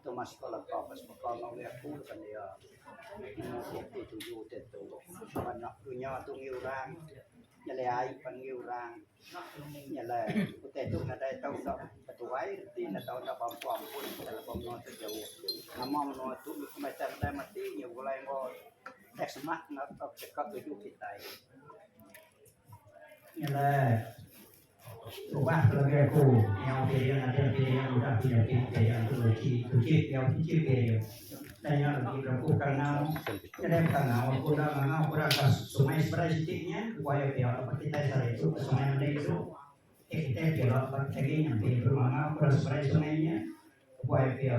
Tu mah sekula ka ba semeka enggau agi aku laban iya nemu dua puluh tuju utai tu sama nya dunya tu ngi orang nyelai ai pan ngi orang nyelai utai tu nadai tau enda betuai reti enda tau enda bampu ampun laban menua tu jauh nama menua tu pemansang dai mati nya begulai enggau dai semak enggau tau cheka tuju kitai nyelai Ubah labi aku nyau piring aja piring udah ku nyadi piring tu lagi tuji nyau tuji piring dah nya lagi beraku kangau nyadai kangau aku enda ngangau ku orang ka sungai seberai siti nya ku ayu pia laban kitai sehari tu ke sungai meli tu kitai pia laban agi nyampi mangau ke seberai sungai nya ku ayu pia.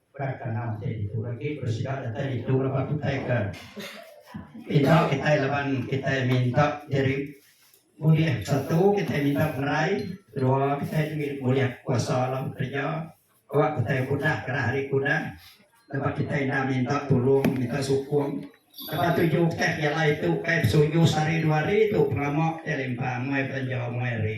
Berat ka enggau ti ditu agi bersida datai ditu laban utai ke enda kitai laban kitai minta diri ulih satu kitai minta penerai kedua kitai diri ulih kuasa dalam kerja awak kitai kudah gerah ari kudah laban kitai enda minta tulung minta sukung laban tuju kitai pejalai tu kai besuju sehari dua hari tu pengamak kitai limpah muai belanja muai hari.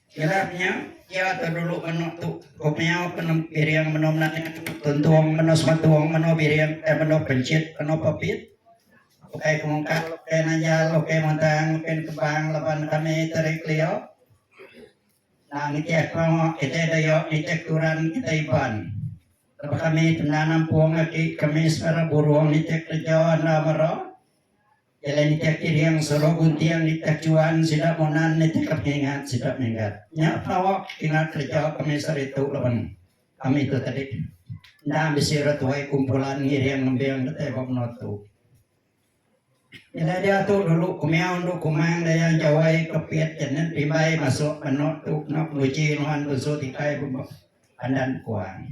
Ilah nya, iya ke dulu menoa tu, ku meau ke nemu biring menoa mena nya, tuntung menoa semetung, menoa biring, ukai menoa penchit, menoa pepit, ukai kemungkak, ukai nanjal, ukai mentang, ukai nekebang laban kami teri kelio. Nah, nitih ko kitai dayo, nitih turan kitai Iban. Lepa kami tena nampung aki kami semera burung nitih kereja enda mera, Jalai nitih ati riang suruh gunting di kachuan sida monan nitih ka pengingat sida minggat. Nya tau kina kereja kami saritu laban kami tu tadi enda bisi orang tuai kumpulan ngiring ngembing datai ba menua tu. Jalai diatu dulu kumiau endu kumang daya jawai ke pit jenet pimbai masuk menu tu kena penguji nuan tunsu tikai ba pandan kuang.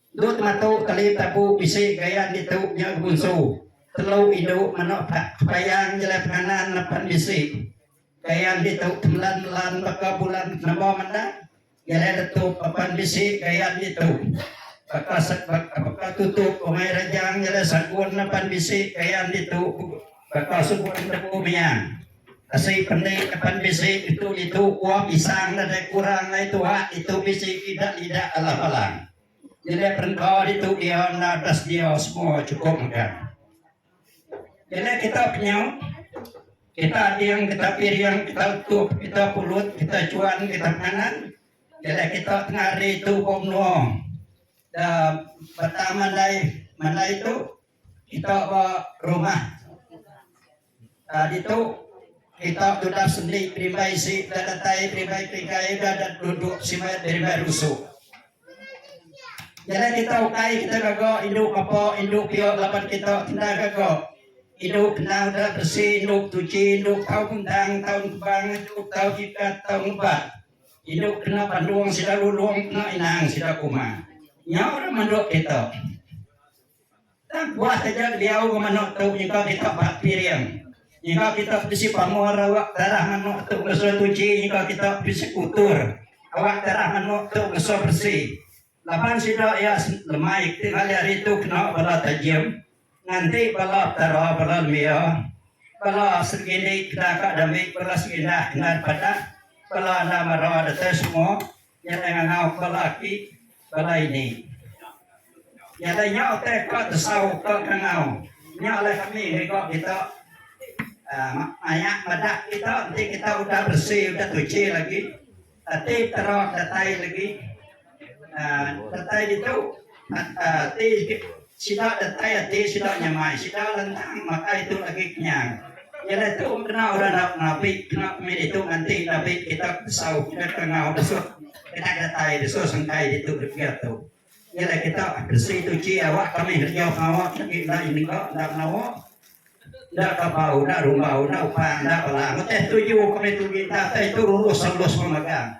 Dut matu keli tabu bisi gaya ditu nya gemunsu telu indu meno payang nyelai penganan nepen bisi gaya ditu temelan melan baka bulan penemu menda nyelai letup apan bisi gaya ditu baka baka tutup umai rejang nyelai sagun apan bisi gaya ditu baka sugun tebu miang. Asi pening ke pan bisi ngetu ditu uah pisang nadai kurang alai tuak ditu bisi idak idak alah palang. Nyelai perengka ditu iya enda udah sedia semua chukup megang. Nyelai kita penyau, kita ading, kita piring, kita utup, kita pulut, kita chuan, kita penganan. Nyelai kita tengah hari tu ba menua da betang mandai mandai tu kita ba rumah Tadi tu, kita tudah sendi berimbai isi, udah datai berimbai pikai, udah dat duduk simat berimbai rusuk. Jadi kita ukai kita gaga indu bapa, indu pia laban kita kena gaga. Indu kena udah bersih, indu tuci, indu tahu bentang, tahu kebang, indu tahu jikat, tahu ngebak. Indu kena pandung sida lulung, kena inang sida kuma. Nya orang manduk kita. Tang puas taja diau enggau manok tu nyengka kita ba piring. Nyengka kita bisi pamor awak tarah manok tu ngeso tuchi nyengka kita bisi kutur awak tarah manok tu ngeso beresi. Laban sida iya lemai ti ngali ari tu kena bala tajim nganti bala petara bala nembiya bala segini keda ka dami bala segindah endar padah bala enda mara datai semua. Nya alai ngangau ke laki bala ini. Nya alai nya utai ke tesau ke ngangau. Nya alai kami ngiga kita maya meda kita enti kita udah beresi udah tuchi lagi ati tera datai lagi datai ditu ati Sida datai ati sida nyamai sida lentang makai tu agi kenyang. Nyadi tu kena orang enda menabi kena kami ditu nganti nabi kitab besau peda kangau desut kena datai desut sengkai ditu degil tu. Nyadi kitab besi tu ji awak kami ngerenyau pengawa agi enda nyengga enda menawa enda kabau enda rumbau enda upan enda balang. Utai tuju kami tu agi enda utai tu rurus selus pemagang.